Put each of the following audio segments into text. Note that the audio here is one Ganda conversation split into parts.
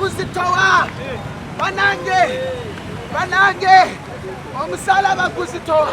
kuzitowa banange banange omusalaba kuzitowa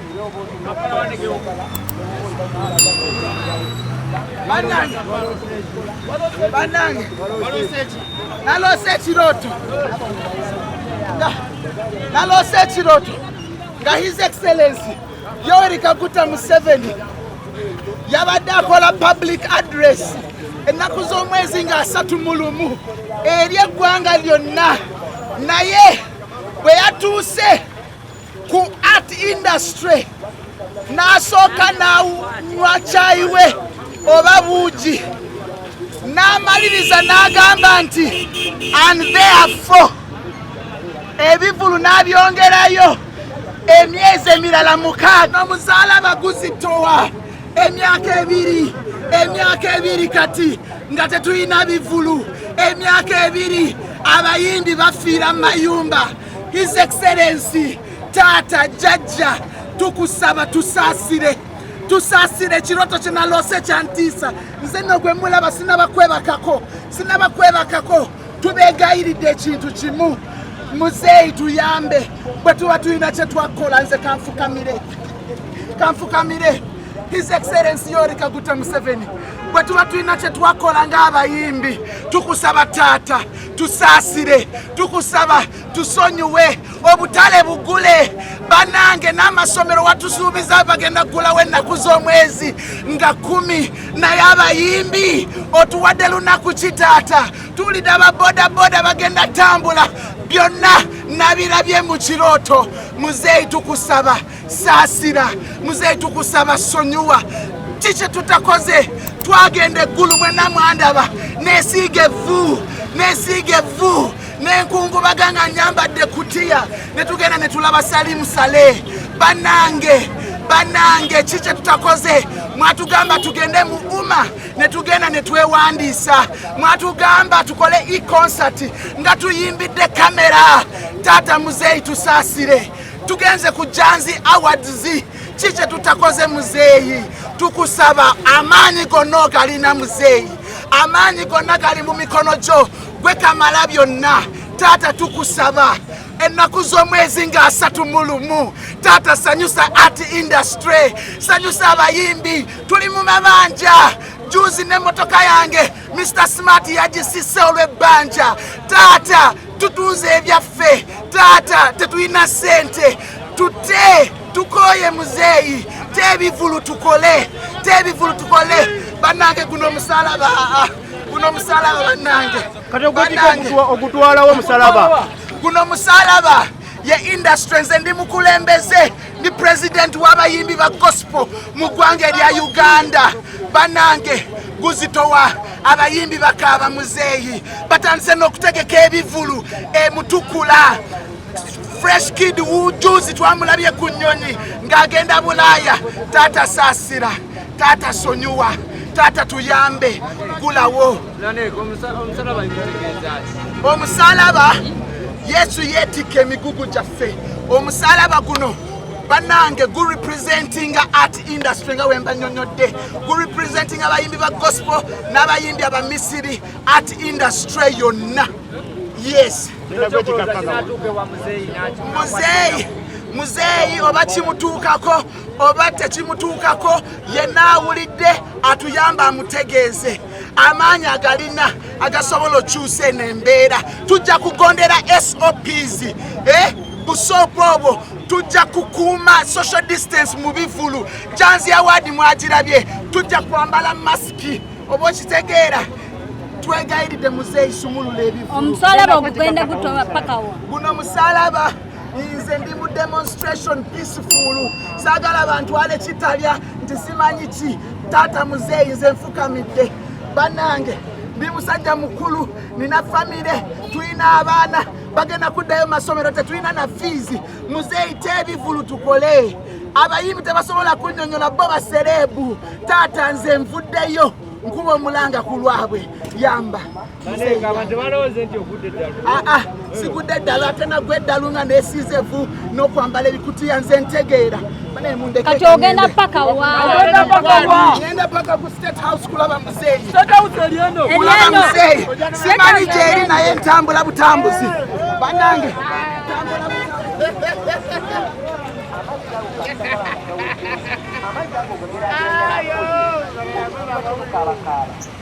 banange naloose ekiroto naloose ekiroto nga his excellency yoweri kaguta museveni yabadde akola public address ennaku z'omwezi nga asatu mu lumu eri eggwanga lyonna naye bwe yatuuse ku art industry n'asooka n'anywa kyayi we oba buugi n'amaliriza n'agamba nti and therefore ebivulu n'abyongerayo emyezi emirala mukaaga omuzaala abaguzi towa emyaka ebiri emyaka ebiri kati nga tetulina bivulu emyaka ebiri abayimbi bafiira mu mayumba His Excellency taata jajja tukusaba tusaasire tusaasire ekirooto kye naloose kyantiisa nze nno gwe mulaba sinabakwebakako sinabakwebakako tubeegayiridde ekintu kimu muzeeyi tuyambe bwe tuba tulina kye twakola nze kanfukamire kanfukamire his excellency yoweri kaguta museveni bwe tuba tulina kye twakola ng'abayimbi tukusaba taata tusaasire tukusaba tusonyiwe obutale bugule banange n'amasomero watusuubiza bagenda kugulawo ennaku z'omwezi nga kumi naye abayimbi otuwadde lunaku ki taata tuwulidde ababodaboda bagenda tambula byonna nabirabye mu kirooto muzeeyi tukusaba saasira muzeeyi tukusaba sonyiwa ki kye tutakoze twagenda eggulu mwena mwandaba nesiiga evvu nesiiga evvu nenkungubaga nga nyambadde kutiya ne tugenda ne tulaba salimu sale banange banange ki kye tutakoze mwatugamba tugende mu uma ne tugenda ne twewandiisa mwatugamba tukole e-concert nga tuyimbidde kamera taata muzeeyi tusaasire tugenze ku janzi awards ki kye tutakoze muzeeyi tukusaba amaanyi gonna ogalina muzeeyi amaanyi gonna gali mu mikono gyo gwe kamala byonna taata tukusaba ennaku z'omwezi nga asatu mu lumu taata sanyusa art industry sanyusa abayimbi tuli mu mabanja juzi n'emmotoka yange mr smart yagisise olw'ebbanja taata tutunze ebyaffe taata tetulina sente tute tukoye muzeeyi tebivulu tukole tebivulu tukole banange guno omusalaba guno omusalaba banange kati ogutwalawo omusalaba guno omusalaba ye industries endi mukulembeze ndi president w'abayimbi ba gospel mu ggwanga erya uganda banange guzitowa abayimbi bakaaba muzeeyi batandise n'okutegeka ebivulu emutukula fresh kid wujuzi twamulabye ku nnyonyi ng'agenda bulaaya taata saasira taata sonyiwa taata tuyambe gulawo omusalaba yesu yeetikka emigugu gyaffe omusalaba guno banange gu representinga art industry nga wemba nyonyodde gu representinga abayimbi ba gospel n'abayimbi abamisiri art industry yonna yes muzeeyi muzeeyi oba kimutuukako oba tekimutuukako yenna awulidde atuyamba amutegeeze amaanyi agalina agasobola okyusa eno embeera tujja kugondera sops eh? busoopu obwo tujja kukuuma social distance mu bivulu janzi awaadi mwagirabye tujja kwambala masiki oba okitegeera twegayiridde muzeeyi sumulula ebivulu omusalaba ogugenda gutoba pakawa guno musalaba nze ndi mu demonstration peaceful saagala bantwale kitalya nti simanyi ki taata muzeeyi nze nfukamidde banange ndi musajja mukulu nina famire tulina abaana bagenda kuddayo masomero tetulina na fiizi muzeeyi tebivulu tukole abayimbi tebasobola kunyonyola bo basereebu taata nze nvuddeyo nkuba omulanga ku lwabwe yamba Ah, ah, sigudde eddalu ate nagwa eddalu nga nesiize vu n'okwambala ebikutiya nze ntegeera kati ogenda paka wagenda paka ku state house kulaba muzeeyikulaba muzeeyi simanyi gyeri naye ntambula butambuzi banange Ayo,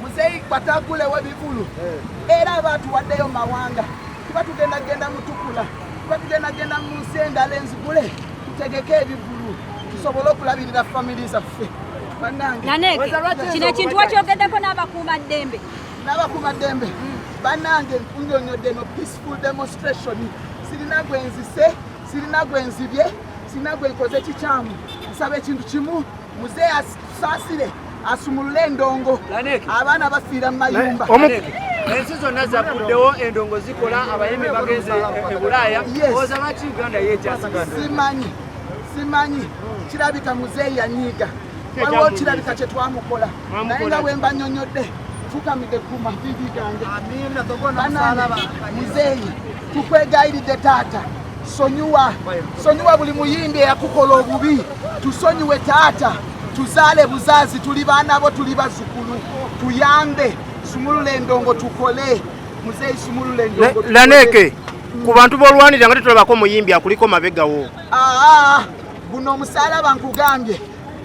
muzeeyi batagulewo bivulu eh. era aba atuwaddeyo mawanga kuba tugenda genda mutukula kuba tugenda genda mu nsi endala enzigule tutegeke ebivulu tusobole okulabirira famili zaffe naneke kino ekintu wakyogeddeko n'abakuuma ddembe n'abakuuma ddembe hmm. banange nkunyonyodde no peaceful demonstration sirina gwenzise sirina gwenzibye sirina gwenkoze kikyamu nsaba ekintu kimu muzeeyi Saasire asumulule endongo abaana bafiira mu mayumba ensi zonna zakuddewo endongo zikola abayimbi bagenze e, e bulaaya oza lwaki uganda yekyasigaza simanyi simanyi kirabika muzeeyi yanyiiga waliwo kirabika kye twamukola naye nga wemba nyonyodde fukamidde ku mavivi gange muzeeyi tukwegayiridde taata sonyiwa sonyiwa buli muyimbi eyakukola obubi tusonyiwe taata tuzaale buzaazi tuli baana bo tuli bazukulu tuyambe sumulula endongo tukole muzeeyi sumulula endongo laneke ku bantu b'olwanirira nga tetulabako omuyimbi akuliko mabegawo aa guno omusalaba nkugambye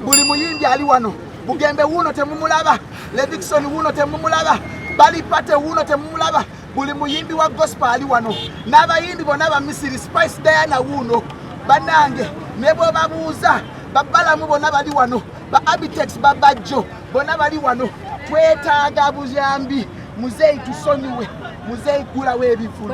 buli muyimbi ali wano bugembe wuuno temumulaba ledikisoni wuuno temumulaba balipate wuuno temumulaba buli muyimbi wa gospel ali wano n'abayimbi bona ba misiri spice diana wuuno banange ne bwebabuuza babalamu bona bali wano ba abitex babajjo bona bali wano twetaaga buyambi muzeeyi tusonyiwe muzeeyi gulawo ebivulu